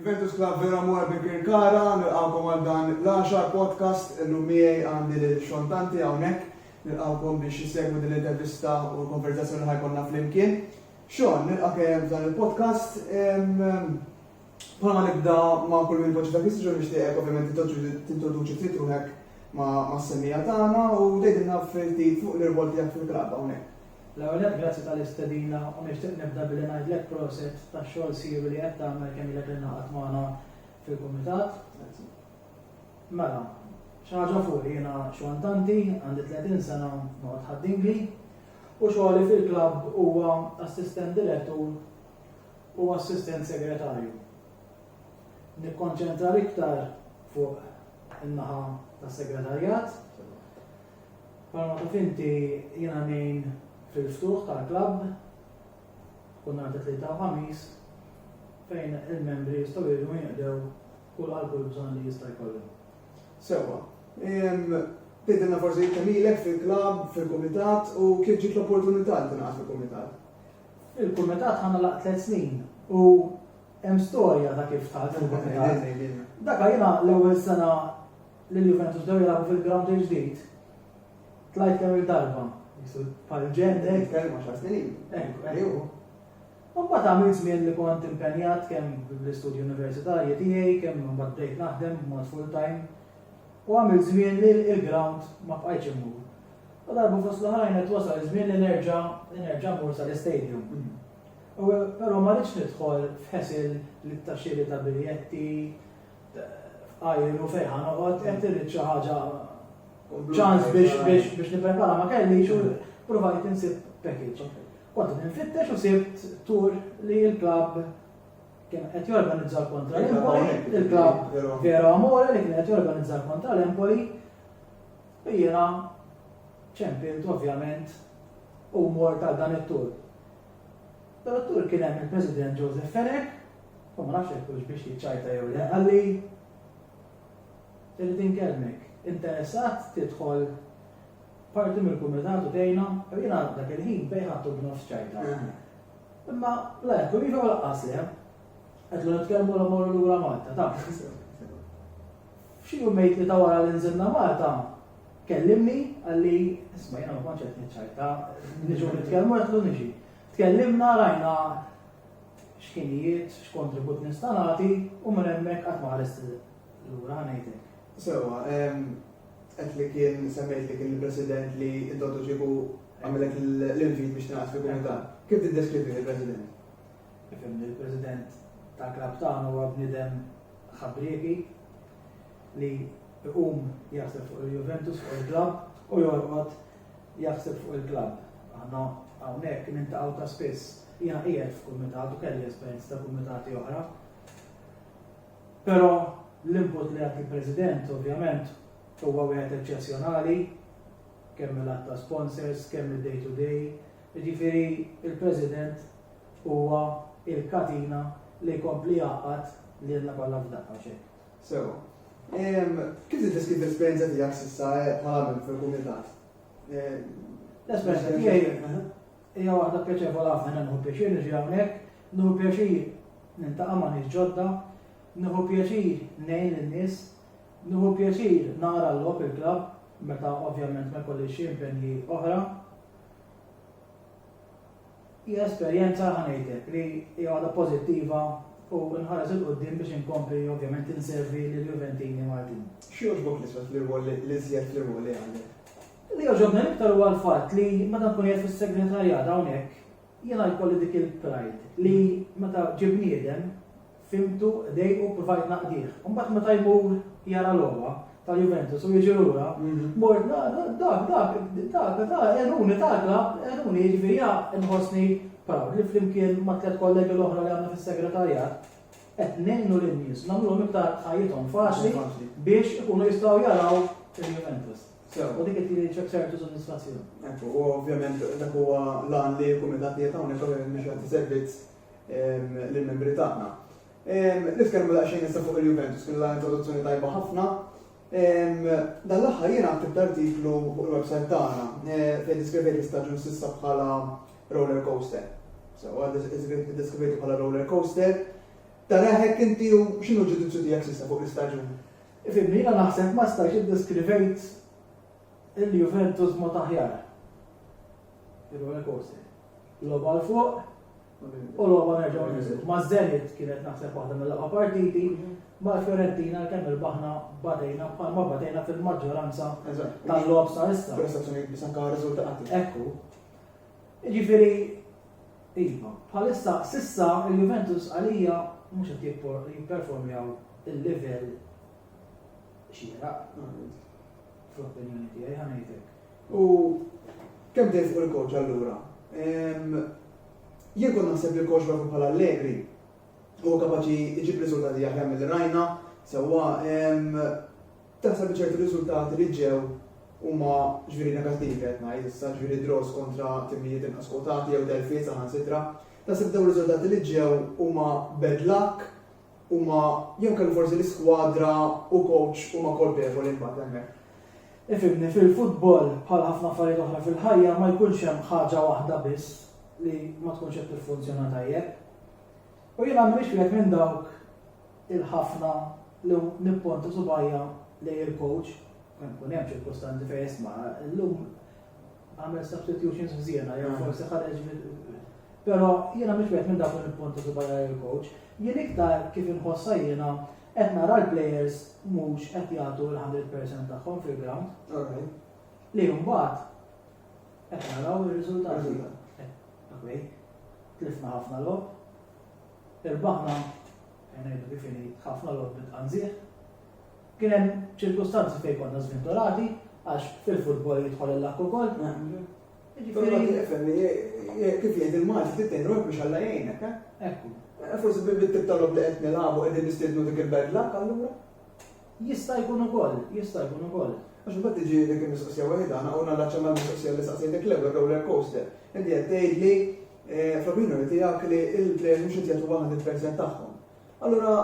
Juventus Club vera mor bi Kirkara, nilqawkom għal dan l-10 podcast illum miegħi għandi lil xontanti hawnhekk. Nilqawkom biex isegwu din l-intervista u l-konverzazzjoni ħajkonna flimkien. Xon, nilqa' kemm dan il-podcast Bħala ma nibda ma' kull min ipoġġi dak l-istġu nixtieqek ovvjament tintroduċi ftit ruħek ma' semmija tagħna u tgħidilna ftit fuq l-irwol tiegħek fil-klabb hawnhekk. L-ewwel nett grazzi tal-istedina u nixtieq nibda billi ngħidlek proset tax-xogħol siwi li qed tagħmel kemm ilek ingħaqadt magħna fil-kumitat. Grazzi. Mela, xi ħaġa fuqi jiena xwantanti, għandi 30 sena noqgħod ħaddingli u xogħli fil-klabb huwa assistent direttur u Assistent Segretarju. Nikkonċentra l-iktar fuq in-naħa tas-Segretarjat. Bħalma taf inti jiena ngħin fil-ftuħ tal-klabb kull nhar ta' tlieta u ħamis fejn il-membri jistgħu jiġu jinqdew kull għal kull bżonn li jista' jkollhom. Sewwa. Tidilna forsi jittemilek fil-klabb, fil-kumitat u kif ġiet l-opportunità li tingħaqad fil-kumitat? Il-kumitat ħa nagħlaq tliet snin u hemm storja ta' kif tagħlaq il-kumitat. Dak jiena l-ewwel sena li l-Juventus bdew jilagħbu fil-ground il-ġdid, tlajt kemm il-darba. Bħal ġenni. Nitkellmu għaxar snin ilu. Ekku, ekku. Mbagħad għamilt żmien li kont impenjat kemm bl-istudji universitarji tiegħi, kemm mbagħad bdejt naħdem b'mod full-time, u għamilt żmien li l-ground ma bqajtx immur. U darba fost l-oħrajn qed wasal iż-żmien li nerġa' li nerġa' mmur sal-istadium. U però ma rridx nidħol f'ħesel li ta' xiri ta' biljetti, f'qajr u fejn ħa noqgħod, qed irrid xi ħaġa ċans biex biex biex nipprepara ma kellix u provajt insib package. Kont nfittex u sibt tur li l-klabb kien qed jorganizza kontra l-Empoli, il-klabb Vero Amore li kien qed jorganizza kontra l-Empoli U jiena ċempilt ovvjament u mort għal dan it-tour. Dan it-tour kien hemm il-President Joseph Fenech, u ma nafx jekk hux biex jiċċajta jew le, qalli, Irrid inkellmek, interessat tidħol parti mill-kumitat u tgħinna? U jiena dak il-ħin bejn ħadd u b'nofs ċajta. Imma la jekk u iva u laqqas le. Qedlu nitkellmu la mmorru lura Malta, taf. F'xi jumejn ta' wara li nżilna Malta, kellimni, qalli, isma' jiena ma kontx qed niċċajta, niġu nitkellmu qedtlu niġi. Tkellimna, rajna x'ħinijiet, x'kontribut nista' nagħti u minn hemmhekk qatt ma ħarist lura, ħa ngħidlek. Sewwa, qed li kien semmejt li kien il-President li inti għadu kieku għamillek l-invit biex tingħaqad fil-Kumitat. Kif tiddeskrivih il-President? Nifhem li l-President tal-klabb tagħna huwa bniedem ħabrieki li jqum jaħseb fuq il-Juventus, fuq il-klabb u jorqod jaħseb fuq il-klabb. Aħna hawnhekk nintaqgħu ta' spiss. Jiena qiegħed f'kumitat u kelli esperjenza ta' kumitati oħra. Però l-input li jagħti l-President ovvjament huwa wieħed eċċezzjonali kemm il-għadd ta' sponsors, kemm id-day to day, Jiġifieri l-President huwa l-katina li jkompli jgħaqqad lilna kollha f'daqqa, mhux hekk? Sewwa. Kif tiddeskrivi l-esperjenza tiegħek s'issa bħala membru fil-Kumitat? L-esperjenza tiegħi hija waħda pjaċevoli ħafna. Jiena nieħu pjaċir niġi hawnhekk, nieħu pjaċir niltaqa' ma' nies ġodda, nieħu pjaċir ngħin lin-nies, nieħu pjaċir nara l-logħob, il-klabb, meta ovvjament ma jkollix xi impenji oħra. Hija esperjenza, ħa ngħidlek, li hija waħda pożittiva u nħares 'il quddiem biex inkompli ovvjament inservi lill-Juventini Maltin. X'jogħġbok l-iżjed fl-irwol li l-iżjed fl-irwol li għandek? Li jogħġobni l-iktar huwa l-fatt li meta nkun qiegħed fis-segretarjat hawnhekk jiena jkolli dik il-pride li meta ġie bniedem Fhimtu, dejqu, ppruvajt naqdih. Imbagħad meta jmur jara logħba tal-Juventus u jiġi lura, mort dak, dak, dak, dak, dak, għenuni, dak, dak, għenuni, jiġifieri ja nħossni proud li flimkien ma' tliet kollegi l-oħra li għandna fis-segretarjat qed ngħinu lin-nies, nagħmluhom iktar ħajjithom faċli biex ikunu jistgħu jaraw il-Juventus. U dik qed jiġi ċertu sodisfazzjon. Ekku, u ovvjament dak huwa l-għan li l-kumitat li qed hawnhekk biex jagħti servizz lill-membri tagħna. Nitkellmu daqsxejn issa fuq il-Juventus, kien la introduzzjoni tajba ħafna. Dan l-aħħar jiena għattibt artiklu fuq il-website tagħna fejn diskrivejt l-istaġun s'issa bħala roller coaster. Sewa, diskrivejt bħala roller coaster. Tara hekk inti u x'inhu ġudizzju tiegħek s'issa fuq l-istaġun? Ifimni, jiena naħseb ma stajtx iddiskrivejt il-Juventus mod aħjar. Ir-roller coaster. Logħba 'l fuq u logħba nerġgħu ninżlu. Ma' Zenit kienet naħseb waħda mill-aqwa partiti, ma' Fiorentina l-kemm irbaħna batejna bħalma batejna fil-maġġoranza tal-logħob sa issa. Prestazzjonijiet biss anke riżultati. Ekku. Jiġifieri iva, bħalissa sissa il-Juventus għalija mhux qed jipperformjaw il-livell xieraq. Fl-opinjoni tiegħi ħanejtek. U kemm dejjem fuq il-kowċ allura? Ehm, jien kont naħseb li l-kowċ propju bħala Allegri huwa kapaċi jġib riżultati aħjar mill rajna, sewwa ehm, taħseb li ċerti riżultati li ġew huma ġviri negattivi qed ngħid, issa ġviri draws kontra timijiet inqas kwotati jew telfiet saħansitra. Tasib dawn riżultati li ġew huma bad luck huma jew kellu forsi l-iskwadra u kowċ huma kolpevoli mbagħad hemmhekk. Ifhimni, fil-futbol bħal ħafna affarijiet oħra fil-ħajja ma jkunx hemm ħaġa waħda biss li ma tkunx qed tiffunzjona tajjeb. U jiena m'iniex wieħed minn dawk il-ħafna li nipponta subajja lejn il-kowċ, kemm kun hemm ċirkustanzi fejn isma' llum Għamel substitutions f'żiena, jew forsi ħareġ Però jiena mhux wieħed minn dawk li nippuntu subajja il-coach. Jien iktar kif inħossha jiena qed nara l-players mhux qed jagħtu l-100% tagħhom fil-ground. Li mbagħad qed naraw ir-riżultati. Okej, tlifna ħafna lob, irbaħna, ngħidu kif ħafna lob bil-qanżieħ, Kien hemm ċirkustanzi fejn konna żvinturati għax fil-futbol jidħol il-luck ukoll. Jiġifieri kif jgħid il-Malti tittejn ruħek biex Alla jgħinek, eh? Ekku. Eh, forsi bit-tip tal-lob li qed nilagħbu qegħdin nistiednu dik il-bad luck allura? Jista' jkun ukoll, jista' jkun ukoll. Għax mbagħad tiġi dik il-mistoqsija waħedha, għana għuna laċċa ma' mistoqsija li saqsejtek l-ewwel roller coaster. Inti qed tgħid li eh, fl-opinjoni tiegħek li l-plejers mhux qed jagħtu 100% tagħhom. Allura,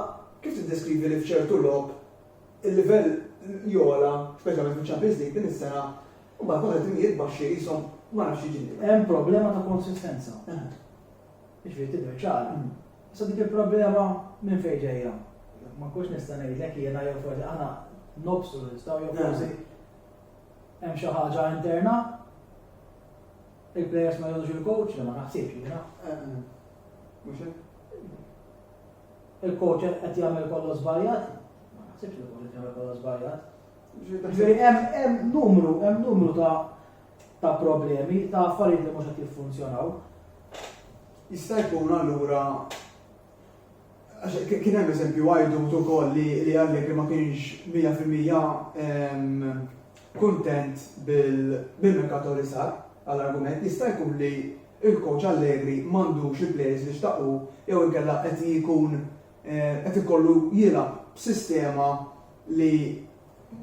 kif tiddeskrivi li f'ċertu logħob il-livell jogħla, speċjalment fiċ-Champions League din is-sena, u mbagħad wara timijiet baxxi qishom ma nafx xi jiġri? Hemm problema ta' konsistenza. Jiġifieri tidher ċara. Issa dik il-problema minn fejn ġejja? Ma nkunx nista' ngħidlek jiena jew forsi aħna nobstu nistgħu jew forsi hemm xi ħaġa interna? Il-plejers ma jgħodux il-coach li ma naħsibx jiena. Mhux hekk? Il-coach qed jagħmel kollox żbaljat? Ma naħsibx li coach qed jagħmel kollox żbaljat. Ġifieri hemm numru, hemm numru ta' ta' problemi, ta' affarijiet li mhux qed jiffunzjonaw. Jista' jkun allura Għax kien hemm eżempju għajdut ukoll li Allegri ma kienx mija fil-mija kuntent bil-merkato li sar għall-argument jista' jkun li l-coach Allegri m'għandux il-players li xtaq hu jew inkella qed jkun qed ikollu jilgħab b'sistema li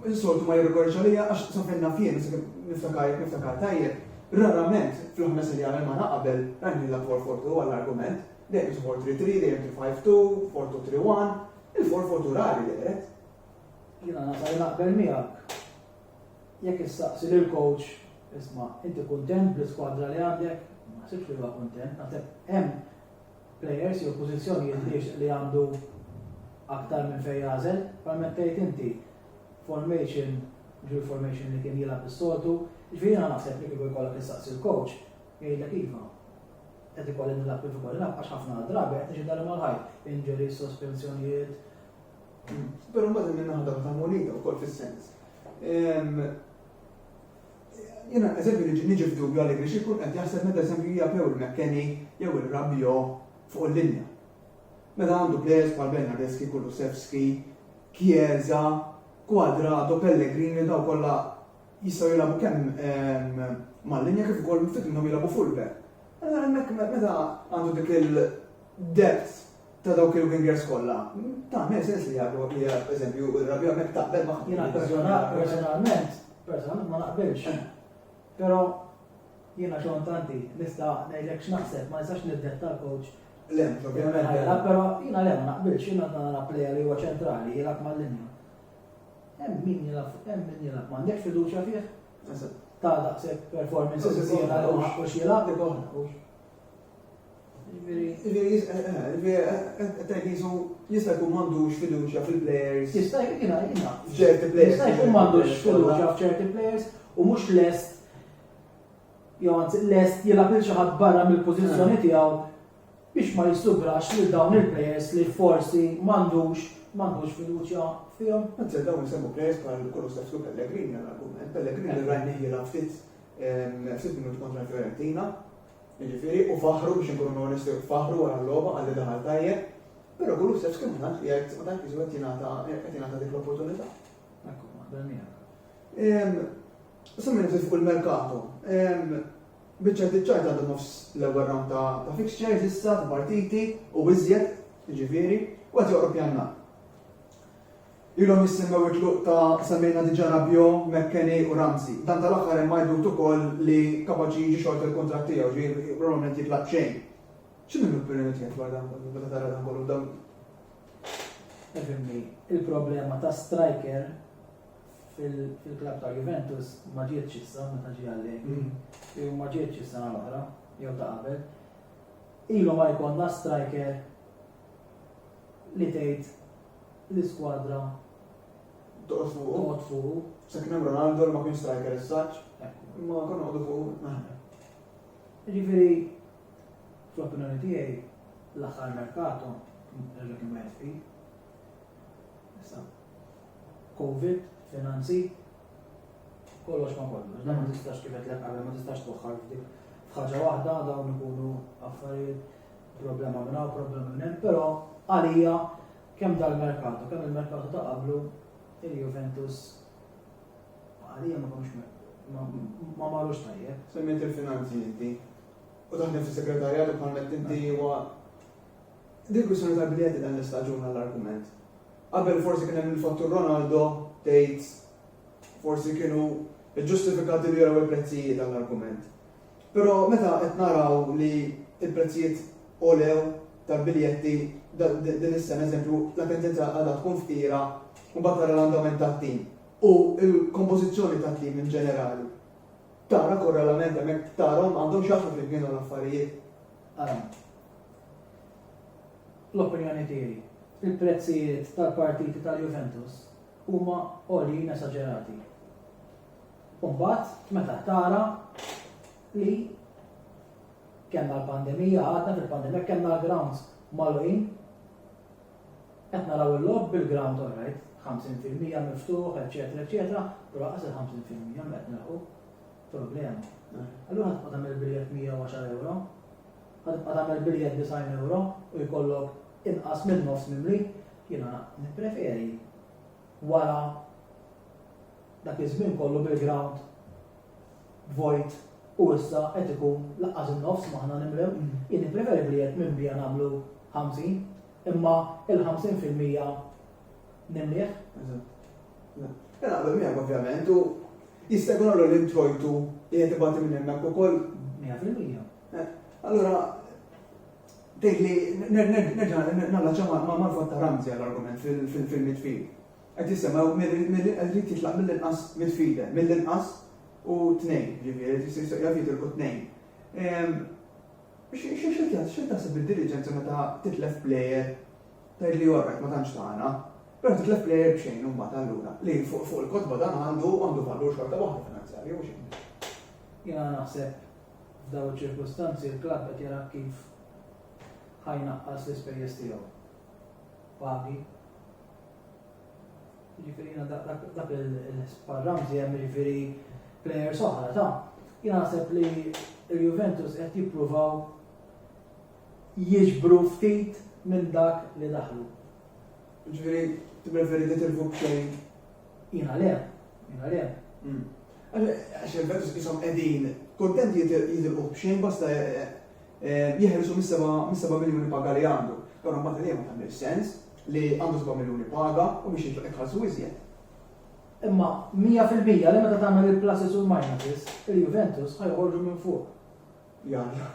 Insoltu ma jirrikorrix għalija għax sakemm naf jien, sakemm niftakar jekk niftakar tajjeb, rarament fil-ħames ilja għamilna aqbel rajnielha four four two għall-argument, dejjem kienet four three three, dejjem three five two, four two three one, il-four four two rari dehret. Jiena nasa li naqbel miegħek. Jekk issaqsi lil coach, isma' inti kuntent bl-iskwadra li għandek, ma ħsibx li huwa kuntent, naħseb hemm plejers jew pożizzjonijiet li jixtieq li għandu aktar minn fejn jagħżel, bħalma tgħid inti, formation, mhux il-formation li kien jilgħab is-soltu, jiġifieri jiena naħseb li kieku jkollok issaqsi l-coach, jgħidlek iva, qed ikolli nilgħab kif ikolli nilgħab għax ħafna drabi qed niġi darba mal-ħajt, injuries, sospensjonijiet. Però mbagħad hemm in-naħa ta' munita wkoll fis-sens. Jiena, eżempju, niġi niġi f'dubju Allegri xi jkun qed jaħseb meta eżempju jgħapew il-McKennie jew ir-Rabiot fuq il-linja. Meta għandu plejers bħal Bernardeschi, Kulusevski, Chiesa, Cuadrado, Pellegrini dawn kollha jistgħu jilagħbu kemm mal-linja kif ukoll ftit minnhom jilagħbu fullback. Meta għandu dik il-depth ta' dawk il-wingers kollha, tagħmel sens li jagħtu hija eżempju ir-Rabiola hekk taqbel ma' Jiena personalment, personalment ma naqbilx. Eh. Però jiena xogħol tanti nista' ngħidlek x'naħseb ma nistax niddetta l-coach. Le, ovvjament. Eh. Però jiena le ma naqbilx, jiena nara plejja li huwa ċentrali jilgħab mal-linja. Hemm min jilgħab, hemm min jilgħab, m'għandekx fiduċja fih. Ta' daqshekk performances jiena li ma ħaqqux jilgħab. Jista' jkun m'għandux fiduċja fil-plejers. Jista' jina, jina. F'ċerti plejers. Jista' jkun m'għandux fiduċja f'ċerti plejers u mhux lest jew anzi lest jilgħab il xi ħadd barra mill-pożizzjoni eh. tiegħu biex ma jissugrax lil dawn il-plejers li forsi m'għandux m'għandux fiduċja fihom. Anzi dawn isemmu plejers bħal kollu Stefsu Pellegrini għal-argument. Pellegrini rajni jilgħab fit Sitt minuti kontra Fiorentina, jiġifieri u faħru biex inkunu onesti u faħru wara l-logħba għalli daħal tajjeb, però Kulusevski ma tantx qiegħed ma tantx qed jingħata dik l-opportunità. Ekku, maħdem miegħek. Semmi nifsif fuq il-merkato. Biċċa tiċċajt għandu nofs l-ewwel round ta' fixtures issa ta' partiti u iżjed, jiġifieri, u qed joqrob janna. Ilhom jissemmew it-tluq ta' semmejna diġà Rabiot, McKennie u Ramsey. Dan tal-aħħar hemm għidut ukoll li kapaċi jiġi xorta l-kuntratt tiegħu, ġifieri probabbilment jitlaq b'xejn. X'inhi l-opinjoni tiegħek dwar dan kollu meta tara dan kollu b'dawn Efhimni, il-problema ta' striker fil-klabb ta' Juventus ma ġietx issa meta ġie Allegri, jew ma ġietx is-sena l-oħra, jew ta' qabel. Ilu ma jkollna striker li tgħid l-iskwadra toqgħod fuqu. Toqgħod fuqu. Se kien hemm Ronaldo li ma kienx striker is-saċ, imma konna noqogħdu fuqu naħna. Ġifieri, fl-opinjoni tiegħi, l-aħħar merkato, reġa kien wieħed fi. Issa, Covid, finanzi, kollox ma kollox, dan ma tistax kif qed l ma tistax twaħħal f'dik. F'ħaġa waħda dawn ikunu affarijiet Problema minn hawn, problema minn hemm, però għalija kemm dal-merkatu, kemm il-merkatu ta' qablu il-Juventus għalija ma komx ma marrux tajjeb. Semmet il-finanzi inti. U taħdem fi segretarjat u bħalmet inti huwa dik kwistjoni ta' biljetti dan l-istaġun għall-argument. Qabel forsi kien hemm il-fattur Ronaldo tgħid forsi kienu ġustifikati li jaraw il-prezzijiet għall-argument. Però meta qed naraw li l-prezzijiet għolew tal-biljetti din is-sena, eżempju, l-Attendenza għadha tkun fqira, u mbagħad tara l-andament tat-tim u l-kompożizzjoni tat-tim in ġenerali, tara korrelament hemmhekk, tarahom għandhom x'jaqsmu flimkien dawn l-affarijiet. Ara, fl-opinjoni tiegħi, il-prezzijiet tal-partiti tal-Juventus huma għoljin esaġerati. U mbagħad meta tara li kellna l-pandemija, għadna fil-pandemija kellna l-grounds magħluqin, qed naraw il-logħob bil-ground all right, 50% miftuħ, eċetera, eċetera, però qas il-50% qed nilħu problema. Allura ħadd qadam il-biljett 110 euro, ħadd qadam il-biljett 90 euro u jkollok inqas minn nofs mimli, jiena nippreferi wara Dak iż-żmien kollu bil-grawnd vojt u issa qed ikun laqqas in-nofs maħna nimlew. Jien nippreferi li jekk minn bija nagħmlu 50, imma il-50 fil-mija nimlieh. Eżatt. Jien naqbel miegħek ovvjament u jista' jkun allura l-introjtu qiegħed ibati minn hemmhekk ukoll. Mija fil-mija. Allura tgħidli nerġa' nallaċċja mal-vot ta' Ramsey għall-argument fil-midfield. Qed jistennew minn qed irid jitlaq mill-inqas midfielder, mill-inqas u tnejn, jiġifieri qed jaf jitilqu tnejn. X'qed taħseb bid-diliġenza meta titlef plejer tgħidli all right ma tantx tagħna, però titlef plejer b'xejn imbagħad allura, li fuq il-kotba dan għandu valur xorta waħda finanzjarju mhux inqas. Jiena naħseb f'dawn iċ-ċirkustanzi l-klabb qed jara kif ħa jnaqqas l-ispejjeż tiegħu. Pagi. Jiġifieri jiena dak il-ħsbar Ramsey hemm jiġifieri plejers oħra ta' jiena naħseb li il-Juventus qed jippruvaw jiġbru ftit minn dak li daħlu. Ġifieri tippreferi li tilfu b'xejn? Jiena le, jiena le. Hmm. Għax il-Juventus ishom qegħdin kuntent jitilqu b'xejn basta eh, eh, jeħilsu mis-seba' miljuni paga li għandu. Allura mbagħad għalija ma tagħmilx sens li għandu seba' miljuni paga u biex jintlaq iħallsu iżjed. Imma mija fil-mija li meta tagħmel il-pluses u l-minuses, il-Juventus ħa joħorġu minn fuq. Jalla.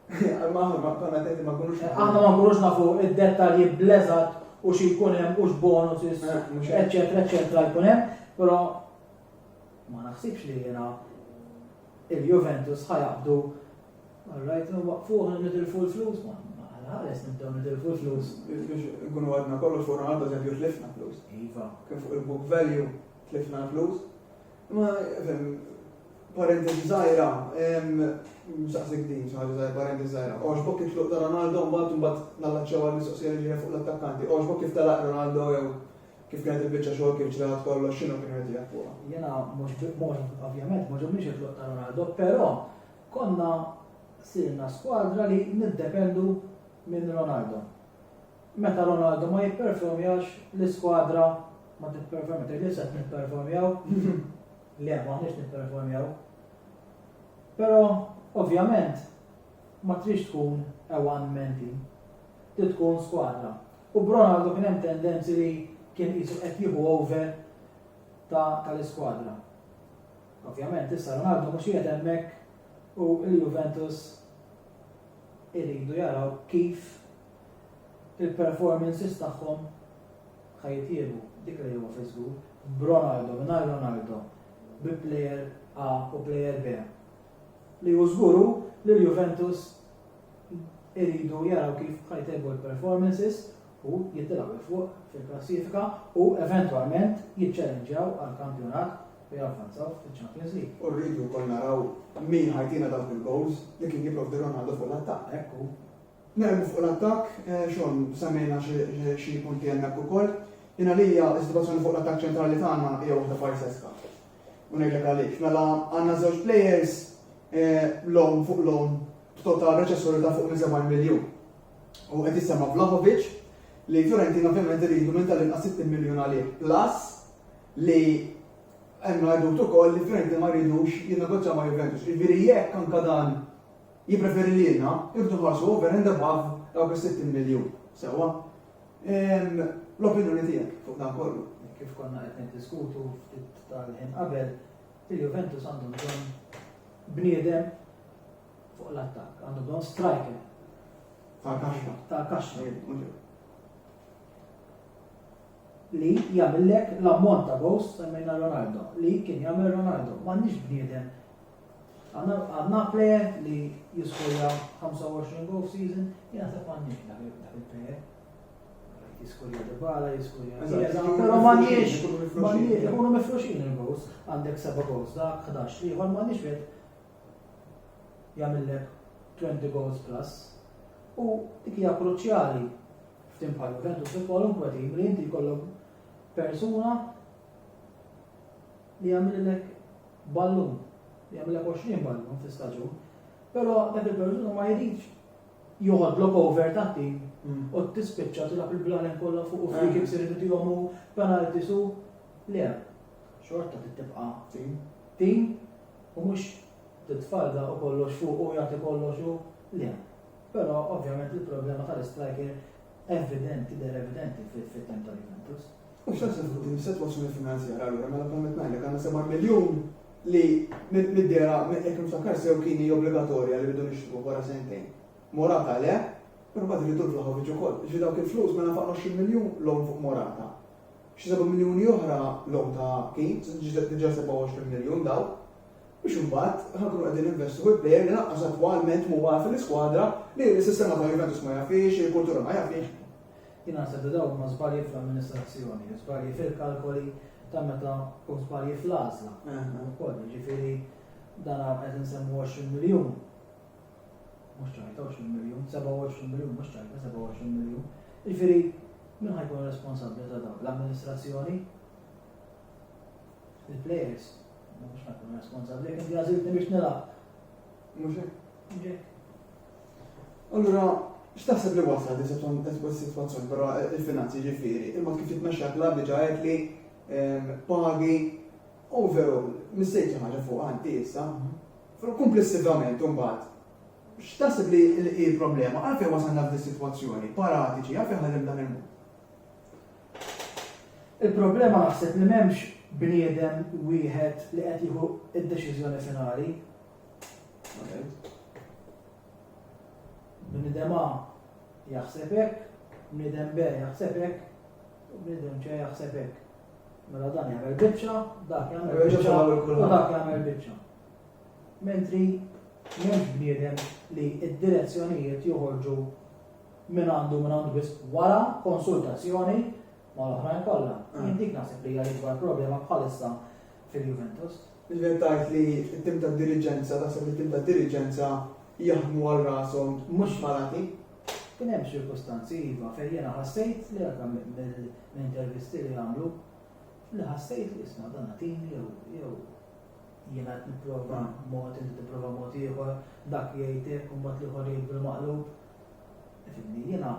Imma aħna ma konna tenti ma kunux. Aħna ma kunux nafu id-dettalji bleżat u xi jkun hemm u x'bonus, eċċetera, eċċetera jkun hemm, però ma naħsibx li jiena il-Juventus ħa jaqbdu Alright, waqfu ħan nitilfu l-flus, ma ħares nibdew nitilfu l-flus. Biex ikunu għadna kollox fuq Ronaldo eżempju tlifna flus. Iva. Kien fuq il-book value tlifna flus. Ma parentesi zaħira, msaqsik din, xaħġa zaħira, parentesi zaħira. Oġbok kif tluq ta' Ronaldo, mbat mbat nallaċċew għal-mistoqsija li ġeja fuq l-attakkanti. Oġbok kif talaq Ronaldo jew Kif kienet il-biċċa xogħol kif ġrat kollox x'inhu kien irid jaf fuqha? Jiena mhux ovvjament ma ġobniex it-tluq ta' Ronaldo, però konna sirna skwadra li niddependu minn Ronaldo. Meta Ronaldo ma jipperformjax l-iskwadra ma tipperformi, tgħid li se nipperformjaw? Le, maħniex nipperformjaw. Però ovvjament Ma tridx tkun a one man team. Trid tkun skwadra. U b'Ronaldo kien hemm tendenzi li kien qisu qed jieħu over ta' tal-iskwadra. Ovvjament issa Ronaldo mhux qiegħed hemmhekk u l-Juventus iridu jaraw kif il-performances tagħhom ħa jitjiebu. Dik li huwa fi żgur. B'Ronaldo, mingħajr Ronaldo, bi player A u player B. Li hu żgur hu li l-Juventus iridu jaraw kif ħa jtejbu l-performances u jitilgħu 'l fuq fil-klassifika u eventwalment jiċċellenġjaw għall-kampjonat u javvanzaw fiċ-Champions League. U rridu wkoll naraw min ħa jtina dawk il-goals li kien jipprovdi Ronaldo fuq l-attakk. Hekk hu. Nermu fuq l-attakk, Shawn, semmejna xi punti hemmhekk ukoll. Jien għalija s-sitwazzjoni fuq l-attakk ċentrali tagħna hija waħda farseska. U ngħidlek għaliex. Mela għandna żewġ players loan fuq loan b'total reċessjoni ta' fuq minn 70 miljun. U qed jissemma Vlahovic li Fiorentina ovvjament iridu minn tal-inqas 60 miljun għalih. Plus li hemm għadut ukoll li Fiorentina ma jridux jinnegozjaw ma' Juventus. Jiġifieri jekk anke dan Jippreferi lilna, iħdu ħarsu over and above dawk is-60 miljun. Sewwa? Ehm, l-opinjoni tiegħek fuq dan kollu? Kif konna qed niddiskutu ftit tal-ħin qabel, il-Juventus għandu bżonn bniedem fuq l-attakk, għandu bżonn striker. Ta' kaxxa. Ta' kaxxa. Li jagħmillek l-ammont ta' gost semmejna Ronaldo, li kien jagħmel Ronaldo, m'għandix bniedem Għandna plejer li jiskorja 25 goal f'season, jien naħseb m'għandniex dak il-plejer. Jiskorja Dybala, jiskorja Però m'għandniex, m'għandniex, ikunu mifruxin il-goals, għandek seba' goals dak, 11 liħor m'għandniex wieħed jagħmillek 20 goals plus. U dik hija kruċjali f'tim bħal Juventus fi kwalunkwe tim li inti jkollok persuna li jagħmililek ballun, li jagħmilek 20 ballun fi staġun, però dak il-persuna ma jridx joħodlok over ta' tim mm. u tispiċċa tilgħab il-blalen kollha fuq u free kicks irid tihom u penalti su le. Xorta tibqa' tim. Tim u mhux titfalda u kollox fuq u jagħti kollox u le. Però ovvjament il-problema tal-striker evidenti, der evidenti fit-tem tal-Juventus. U x'għad se tkun din is-sitwazzjoni finanzjarja allura mela bħal qed ngħidlek għandna 7 miljun li mid-dera jekk niftakar sew kien hi obbligatorja li bidu nixtru wara sentejn. Morata le, però bad rridu l-Vlahovic ukoll. Ġi dawk il-flus mela faqna 20 miljun lom fuq Morata. Xi 7 miljuni oħra lom ta' kien, ġiet diġà 27 miljun daw biex imbagħad ħakru qegħdin investu fil plejer li naqqas attwalment mhuwa fil-iskwadra li s-sistema ta' Juventus ma jafix, il-kultura ma jafix. Jien naħseb li dawk huma żbalji fl-amministrazzjoni, żbalji fil-kalkoli ta' meta u żbalji fl-għażla wkoll. Jiġifieri dan qed insemmu 20 miljun, mhux ċajta 20 miljun, 27 miljun, mhux ċajta 27 miljun. Jiġifieri min ħa jkun responsabbli ta' dawn? L-amministrazzjoni? Il-players? Mhux ħa jkun responsabbli, inti għażiltni biex nilgħab. Mhux hekk? Allura, x'taħseb li wassal li s-sitwazzjoni barra il-finanzi ġifieri, il-mod kif jitmexxa klabb diġà għedt li ehm, pagi overall mistejtu ħaġa fuq għanti issa. Mhm. Komplessivament imbagħad x'taħseb li l-problema għalfejn wasalna f'din is-sitwazzjoni paratiċi għalfejn ħallim dan il-mod. Il-problema naħseb li m'hemmx bniedem wieħed li qed jieħu id-deċiżjoni finali, Bnidem A jaħseb hekk, bnidem B jaħseb hekk, u bnidem C jaħseb hekk. Mela dan jagħmel biċċa, dak jagħmel biċċa, u dak jagħmel biċċa. Mentri m'hemmx bniedem li id-direzzjonijiet joħorġu minn għandu minn għandu biss wara konsultazzjoni ma l-oħrajn kollha. Jien ah. dik naħseb li hija l-ikbar problema bħalissa fil-Juventus. Iżjed tard li t-tim tad-diriġenza, taħseb li t-tim tad-diriġenza jaħdmu għal rashom mhux malati. Kien hemm ċirkustanzi iva fejn jiena ħassejt li anke mill-intervisti li għamlu li ħassejt li isma' dan tim jew jew jiena qed nipprova mod inti tipprova mod ieħor dak jgħid hekk u mbagħad l-ieħor jgħid bil-maqlub. Fimni jiena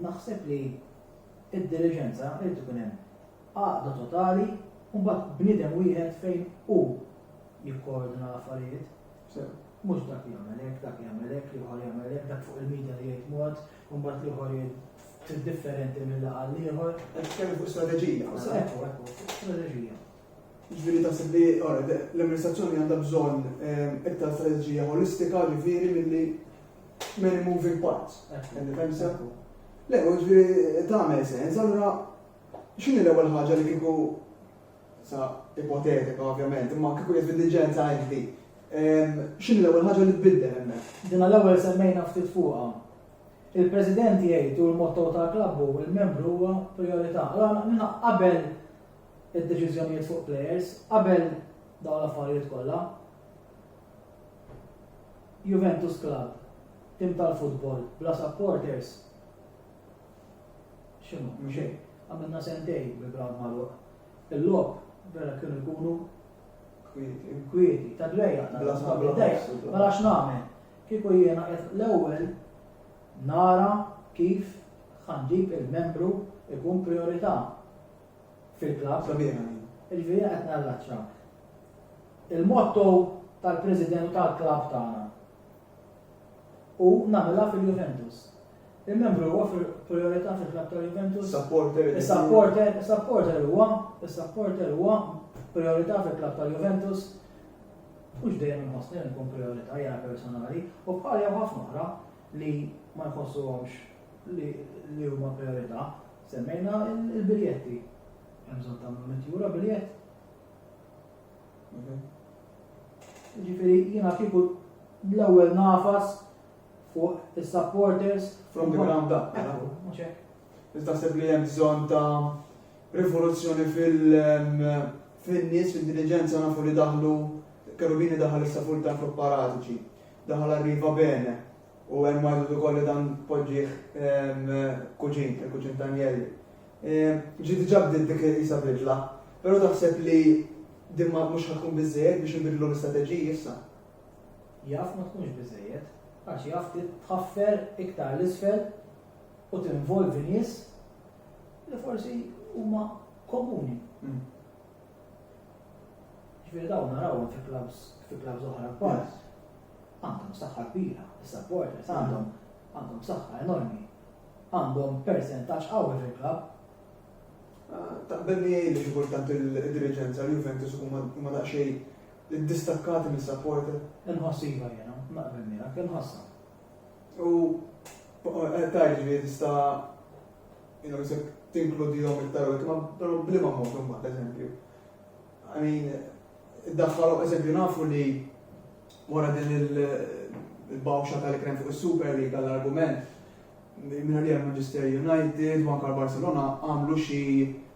naħseb li id-diriġenza irid ikun hemm għaqda totali, u mbagħad bniedem wieħed fejn hu jikkoordina l-affarijiet. Sew. Mhux dak jagħmel hekk, dak jagħmel hekk, l-ieħor jagħmel hekk, dak fuq il-media jgħid mod, u mbagħad l-ieħor jgħid trid differenti mill laqgħa l-ieħor. Qed tkellem fuq strateġija. U sa ekku, ekku, fuq strateġija. Ġifieri taħseb li ora, de- l-amministrazzjoni għandha bżonn eh, iktar strateġija holistika ġifieri milli many moving parts. Ekku, Għandi fehmsa? ekku. Le, u ġifieri tagħmel sens, allura X'inhi l-ewwel ħaġa li kieku, sa ipotetika ovvjament, imma kieku jaf id-diliġenza inti, x'inhi l-ewwel ħaġa li tbiddel hemmhekk? Dina l-ewwel semmejna ftit fuqha. Il-President jgħid u l-motto tal-klabb hu l-membru huwa prijorità. Allura qabel id-deċiżjonijiet fuq plejers, qabel dawn l-affarijiet kollha, Juventus Club, tim tal-futbol, bla supporters, X'inhu, mhux hekk? Għamilna sentejn bi ground magħluq. Il-logħob vera kienu jkunu kwieti, ta' dwejja, ta' blasma bidejja, ma nafx nagħmel. Kieku jiena qed l-ewwel nara kif ħanġib il-membru ikun priorità fil-klabb. Sabiħa din. Iġifieri qed narraċċa. Il-motto tal-President tal-klabb tagħna u nagħmilha fil-Juventus. Il-membru huwa fil-prijorità fil-klabb ta' Juventus. Supporter. Is-supporter, is-supporter huwa, is-supporter huwa prijorità fil-klabb ta' Juventus. Mhux dejjem inħossni li nkun prijorità jara personali u bħal jew ħafna oħra li ma jħossuhomx li huma prijorità. Semmejna il-biljetti. Hemm bżonn tagħmlu mitjura biljett. Mhm. Ġifieri jiena kieku l-ewwel nafas Fuq is-supporters. From the ground up. Ekku, mhux hekk? Inti taħseb li hemm bżonn ta' rivoluzzjoni fin-nies, fl-intelliġenza nafu li daħlu Cherubini daħal issa full time fuq Paratici, daħal Arriva Bene u hemm għajdu ukoll li dan poġġih kuġin, il-kuġin ta' Anjelli. Ġi diġà bdiet dik isa bidla, però taħseb li din mhux ħatkun biżżejjed biex ibidlu l-istrateġiji issa? Jaf ma tkunx biżżejjed, għax jaf tħaffer iktar 'l isfel u tinvolvi nies li forsi huma komuni. Mm. Ġifieri dawn narawhom fi klabs fi klabs oħra kbar. Għandhom saħħa kbira, is-supporters mm. għandhom għandhom saħħa enormi. Għandhom percentaġġ qawwi fil-klabb. Ah, Taqbel li li xi kultant il-diriġenza l-Juventus huma daqsxejn Iddistakkati minn supporter? Inħoss iva jiena, naqbel miegħek, inħossha. U qed tgħid ġifieri tista' jiena isek tinkludihom iktar u iktar, però bliema mod imbagħad eżempju. I mean, iddaħħalhom eżempju nafu li wara din il-bawxa tal-ikrem fuq is-Super League għall-argument minna li Manchester United, u anka Barcelona għamlu xi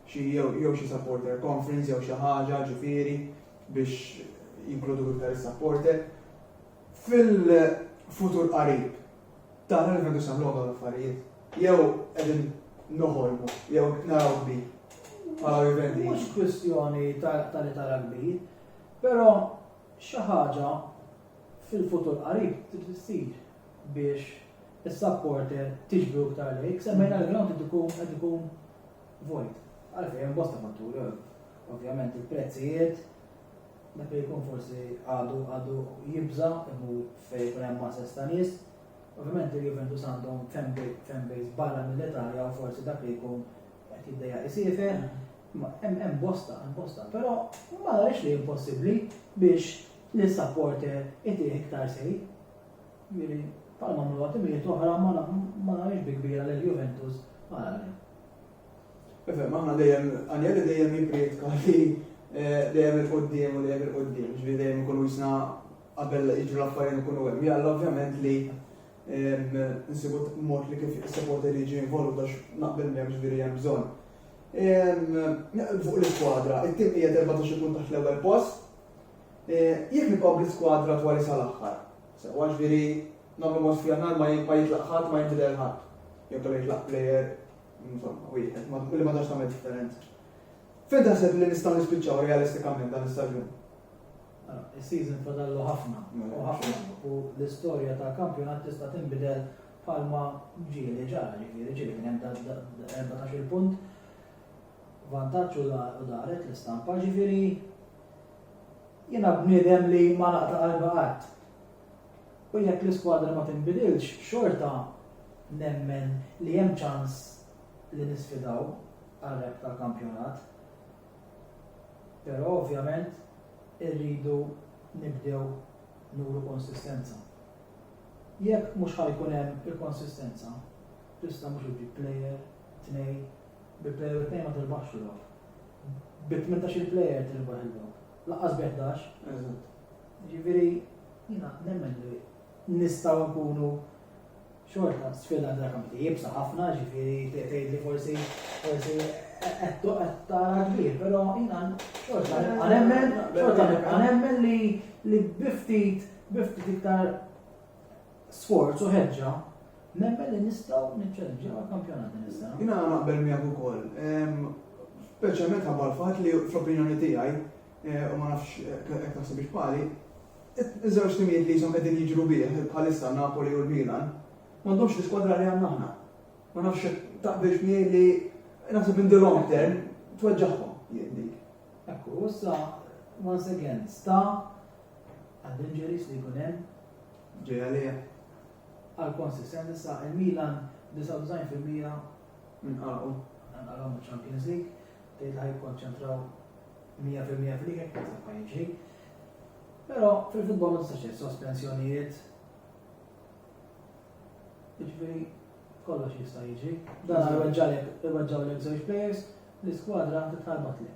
jew xi supporter conference jew xi ħaġa ġifieri biex jinkludu iktar is-supporter. Fil-futur qarib, tara li qegħdux nagħmluhom dawn l-affarijiet? Jew qegħdin noħolmu, jew naraw kbir? Bħala Juventus. Mhux kwistjoni ta' li tara kbir, però xi ħaġa fil-futur qarib trid issir biex is-supporter tiġbru iktar lejk, semmejna l-ground qed ikun qed ikun vojt. Għalfejn hemm bosta fatturi, ovvjament il-prezzijiet, dak li jkun forsi għadu għadu jibża imur fejn jkun hemm masses ta' nies. Ovvjament il-Juventus għandhom fanbase barra mill-Italja u forsi dak li jkun qed jiddejja isifer. Hemm bosta, hemm bosta, però ma narix li impossibbli biex li supporter itih iktar sej. Miri, palma mlu għatimijiet oħra ma narix bi kbira li l-Juventus għal Ifhem, aħna dejjem, għanjeli dejjem jiprietka li eh, dejjem il-qoddim u dejjem il-qoddim, ġvi dejjem ikunu jisna qabel iġru l-affarijiet ikunu hemm. Jalla ovvjament li nsibu mod li kif is-supporter li ġi involut għax naqbel miegħek ġifieri hemm bżonn. Fuq l-iskwadra, it-tim hija 14 punt taħt l-ewwel post. Eh, jekk nibqgħu bl-iskwadra twali sal-aħħar. Sewa ġifieri Nagħmlu mod f'Jannar ma jitlaq ħadd, ma jinbidel ħadd. Jew kellha jitlaq plejer, insomma, wieħed, li ma tantx tagħmel differenza. Fejn taħseb li nistgħu nispiċċaw realistikament dan is-staġun? Ah, is-season fadallu ħafna mela. u ħafna u l-istorja ta' kampjonat tista' tinbidel bħalma ġieli ġara ġifieri ġieli kien hemm 14 punt vantaġġ u daret l-istampa ġifieri jiena bniedem li ma naqta' qalba qatt. U jekk l-iskwadra ma tinbidilx, xorta nemmen li hemm ċans li nisfidaw għar-rebħ tal-kampjonat. Però ovvjament irridu nibdew nuru konsistenza. Jekk mhux ħa jkun hemm il-konsistenza, tista' mhux iġġib plejer, tnejn, bi plejer u tnejn ma tirbaħx il-logħob. Bi tmintax-il plejer tirbaħ il-logħob. Laqqas bi 11. Eżatt. Jiġifieri jiena nemmen li nistgħu nkunu xorta sfida għandha kampi jibsa ħafna, ġifieri tgħid li forsi forsi qed toqgħod tara kbir, però jiena xorta nibqa' nemmen, xorta nibqa' nemmen li li biftit biftit iktar sforz u ħeġġa, nemmen li nistgħu niċċeleġġew għall-kampjonat din is-sena. Jiena naqbel miegħek ukoll. Ehm, speċjalment ħabbar fatt li fl-opinjoni tiegħi eh, u ma nafx eh, hekk taħseb bħali, iż-żewġ timijiet li jisom qegħdin jiġru bih bħalissa Napoli u l-Milan, m'għandhomx l-iskwadra li għandna aħna. Ma nafx taqbilx miegħi li naħseb in the long term tweġġaħhom jien dik. Ekku, issa once again, sta għad-injuries li jkun hemm Ġej għalih għal konsistenza sa il-Milan 99 fil-mija minn qagħu. Nqalgħu miċ-Champions League, tgħid ħa jikkonċentraw 100 fil-mija fil-lig hekk naħseb ħa jiġri. Però fil-futbol ma tistax sospensjonijiet. Jiġifieri kollox jista' jiġri. Dan iweġġalek iweġġawlek żewġ players, l-iskwadra titħarbat lejn.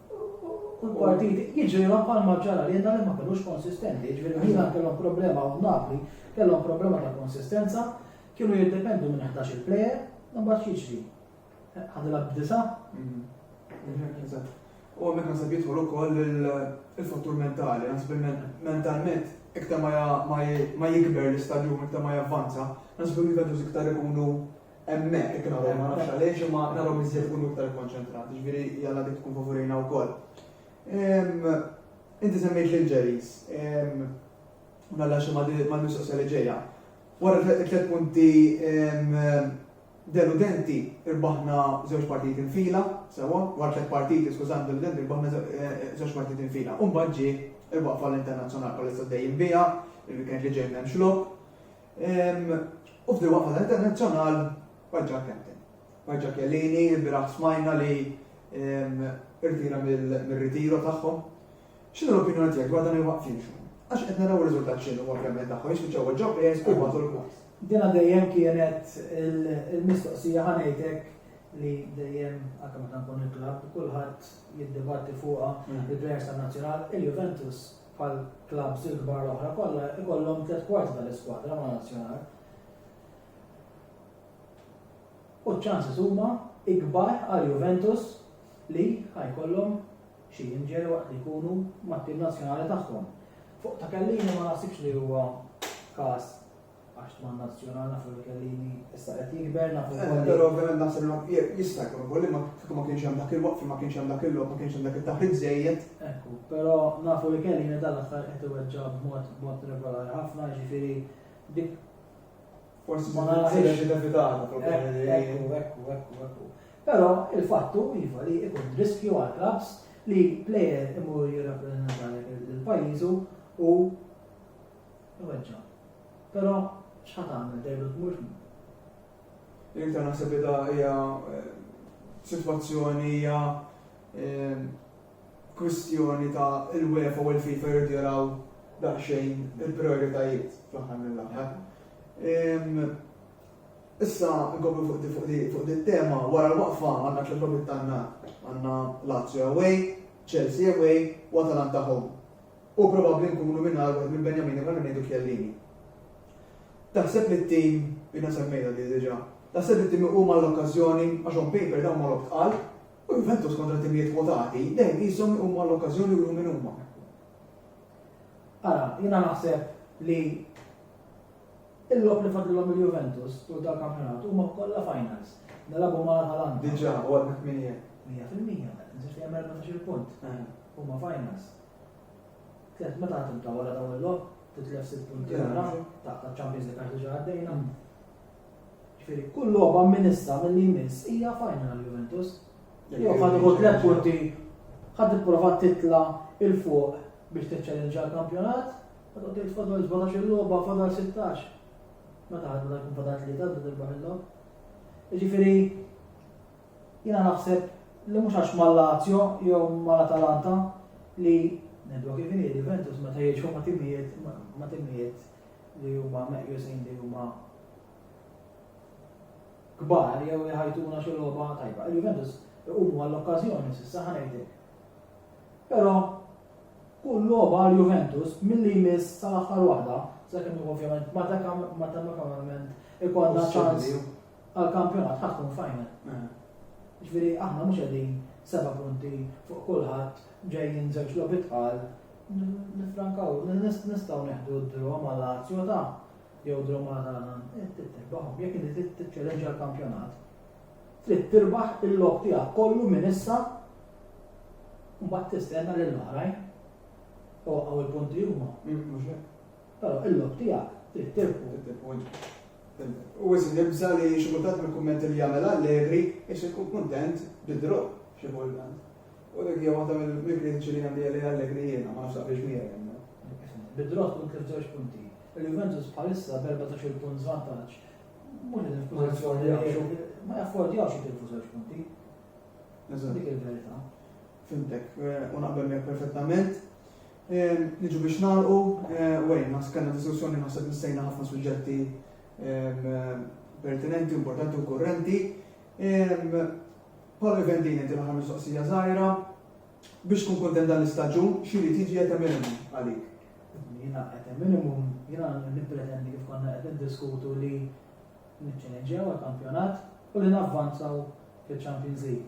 u l-partiti jiġrilhom bħalma ġara li jenna li ma kellux konsistenti, jiġifieri ħafna kellhom problema u Napli kellhom problema ta' konsistenza, kienu jiddependu minn 11 il-plejer, mbagħad jiġri. Ħadilha b'disa. U għamek nasib jidħol ukoll il-fattur mentali, nasib mentalment iktar ma jikber l-istadjum, iktar ma javvanza, nasib il-Juventus iktar ikunu Hemmhekk jekk nagħmlu ma nafx għaliex imma narhom iżjed ikunu iktar ikkonċentrati, ġifieri jalla dik tkun favorina wkoll. Inti semmejt lil Ġeris, u nalla xi ma mistoqsija li ġejja. Wara tliet punti deludenti irbaħna żewġ partijiet infila, sewa, wara tliet partiti skużan deludenti irbaħna żewġ partijiet infila. U mbagħad ġie il-waqfa l-internazzjonali bħalissa dejjem biha, il-weekend li ġej m'hemmx lok. U f'di waqfa ta' internazzjonal paġġa captain. Paġġa Kellini, biraħ smajna li irtira mill-ritiro tagħhom. X'inhu l-opinjoni tiegħek dwar dan il-waqfin xum? Għax qed naraw riżultat x'inhu ovvjament tagħhom jispiċċaw ġew players u bagħtu l-klass. Dina dejjem kienet il-mistoqsija ħanejtek li dejjem anke meta nkun il-klabb kulħadd jiddibatti fuqha il-players tan-nazzjonal, il-Juventus bħall-klabbs il-kbar l-oħra kollha, ikollhom tliet kwarti tal-iskwadra ma' Nazzjonal. U ċ-ċanses huma ikbar għal Juventus li ħajkollhom xi jinġelu waqt li jkunu mat-tim nazzjonali tagħhom. Fuq ta' kellini ma naħsibx li huwa każ Għax tman nazzjonal nafu li kellini issa qed jikber nafu eh, li. Però ovvjament naħseb li jista' jkun ukoll li ma kieku ma kienx hemm dak il-waqf ma kienx hemm dak il-lok ma kienx hemm dak it-taħrid żejjed. Ekku, però nafu li kellini dal-aħħar qed iweġġa' b'mod b'mod regolari ħafna ġifieri dik forsi ma narax inevitata problemi. Eh, ekku, ekku, ekku, ekku. Però il-fattu iva li ikun riskju għal klabs li plejer imur jirrappreżentalek il-pajjiżu u Iweġġa'. Però x'ħa tagħmel dejlu d-dmur x'mhu? L-iktar naħseb li da hija sitwazzjoni hija kwistjoni ta' il-UEFA u l-FIFA jridu jaraw daqsxejn il-prijoritajiet fl-aħħar mill-aħħar. Issa nkomplu fuq di tema wara l-waqfa għandna tliet logħbiet tagħna għandna Lazio away, Chelsea away u Atalanta home. U probabbli nkunu mingħajr wieħed minn Benjamini bħalma ngħidu Chiellini. Taħseb li t-tim, jiena semmejtha di diġà, taħseb li t-tim iqum għall-okkażjoni għax on paper dawn ma' logħob tqal, u Juventus kontra timijiet kwotati dejjem qishom iqumu għall-okkażjoni u juru min huma. Ara, jiena naħseb li il-logħob li fadlilhom il-Juventus tul tal-kampjonat huma kollha finals. Nilagħbu ma' Atalanta. Diġà, u għadna 8. 100%, nżid li hemm 14 punt. Huma finals. Tlett meta għad tibda wara dawn il-logħob, titlef sitt punti wara, taqta' ċ-Champions League għax diġà għaddejna. Ġifieri kull logħba minn issa milli jmiss hija final għal Juventus. Jew ħadd iħu tlett punti, ħadd tipprova titla' il fuq biex tiċċellinġa l-kampjonat, ħadd qed tgħid fadal 17 il-logħba, fadal 16. Meta ħadd meta jkun fadal tlieta biex tirbaħ il-logħob. Ġifieri Jiena naħseb li mhux għax mal-Lazio jew mal-Atalanta li, ngħidluha kif inhi, il-Juventus meta jilgħbu ma' timijiet ma' timijiet li huma meqjusin li huma kbar jew iħajtuna xi logħba tajba. Il-Juventus iqumu għall-okkażjoni s'issa ħa ngħidlek. Però kull logħba għal Juventus milli jmiss sal-aħħar waħda, sakemm ovvjament matematikament ikollna ċans għall-kampjonat ħa tkun final. Jiġifieri aħna mhux qegħdin seba' punti fuq kulħadd ġejjin żewġ logħbiet tqal, nifrankaw, nistgħu neħdu d-draw ma' Lazio ta' jew draw ma' Atalan, trid tirbahom, jekk inti trid tiċċellenġa l-kampjonat. Trid tirbaħ il-lok tiegħek kollu minn issa mbagħad tistenna lil oħrajn. Waqgħu l-punti huma, mhux hekk? Però il-lok tiegħek trid tirbħu. Trid tirbħu int. U wisq nibża' li xi kultant mill-kummenti li jagħmel Allegri isir ikun kuntent bi draw xi kultant. U dik hija waħda mill-kritiċi li għandi għalih Allegri jiena, ma nafx taqbilx miegħi hemmhekk. Bi draw tkun tlif żewġ punti. Il-Juventus bħalissa b'14-il punt żvantaġġ mhux qegħdin f'pożizzjoni li jgħixu ma jaffordjawx jitilfu żewġ punti. Dik il-verità. Fimtek, u naqbel miegħek perfettament. Niġu biex nagħlqu, Wayne, naħseb kellna diskussjoni naħseb missejna ħafna suġġetti pertinenti, importanti u kurrenti. Paolo Vendini inti l-aħħar mistoqsija żgħira. Biex tkun kuntent dan l-istaġun, x'iri tiġi qed hemm għalik? Jiena qed hemm minimum, jiena nippretendi kif konna qed niddiskutu li niċċeleġġjaw għall-kampjonat u li navvanzaw fiċ-Champions League.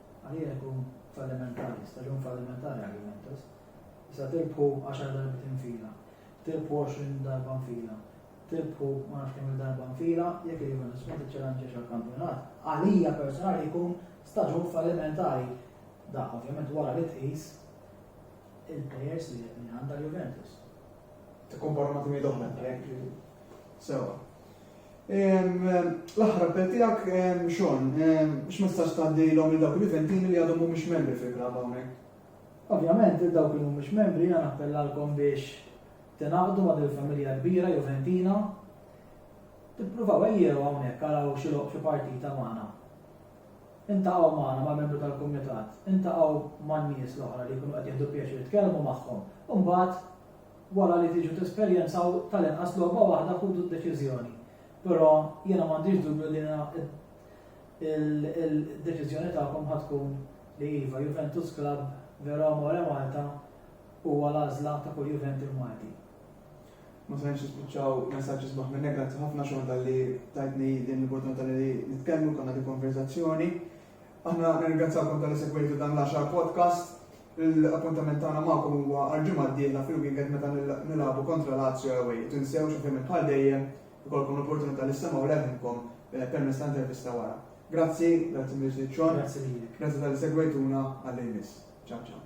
Għalija jkun fallimentari, staġun fallimentari għal Juventus. Issa tirbħu għaxar darbiet infila, tirbħu għoxrin darba nfila, tirbħu ma nafx kemm il-darba nfila, jekk il-Juventus ma tiċċelanġiex għall-kampjonat, għalija personali jkun staġun fallimentari. Dak ovvjament wara li tqis il-plejers li qed minn għandha l-Juventus. Tikkomparmati mid oħra jekk sewa. L-aħħar appell tiegħek xon, x'messaġġ tgħaddilhom lil dawk il-Juventini li għadhom mhumiex membri fil-klabb hawnhekk? Ovvjament, il dawk li mhumiex membri jiena nappellalkom biex tingħaqdu ma' dil-familja kbira Juventina. Tippruvaw ejjew hawnhekk araw xi loq xi partita magħna. Iltaqgħu magħna ma' membru tal-kumitat, iltaqgħu man-nies l-oħra li jkunu qed jieħdu pjaċir tkellmu magħhom, u mbagħad wara li tiġu tesperjenzaw tal-inqas logħba waħda ħudu d-deċiżjoni. Però jiena m'għandix dubju li il-deċiżjoni tagħkom ħa tkun li iva, Juventus Club Vero Amore Malta huwa l-għażla ta' kull Juventi Malti. Ma stajniex nispiċċaw messaġġi sbaħ minn hekk, grazzi ħafna xogħol talli tajtni din l-opportunità li nitkellmu konna din konverzazzjoni. Aħna nirringrazzjakom tal segwejtu dan l-10 podcast. L-appuntament tagħna magħkom huwa għal-ġimgħa d-dieħla fil-weekend meta nilagħbu kontra Lazio away. Tinsew xi fejn bħal dejjem ikolkom l-opportunità li semgħu leħinkom eh, permezz ta' intervista wara. Grazzi, grazzi Miss Ċon. Grazzi Grazzi tal-segwejtuna għall-imis. Ciao ciao.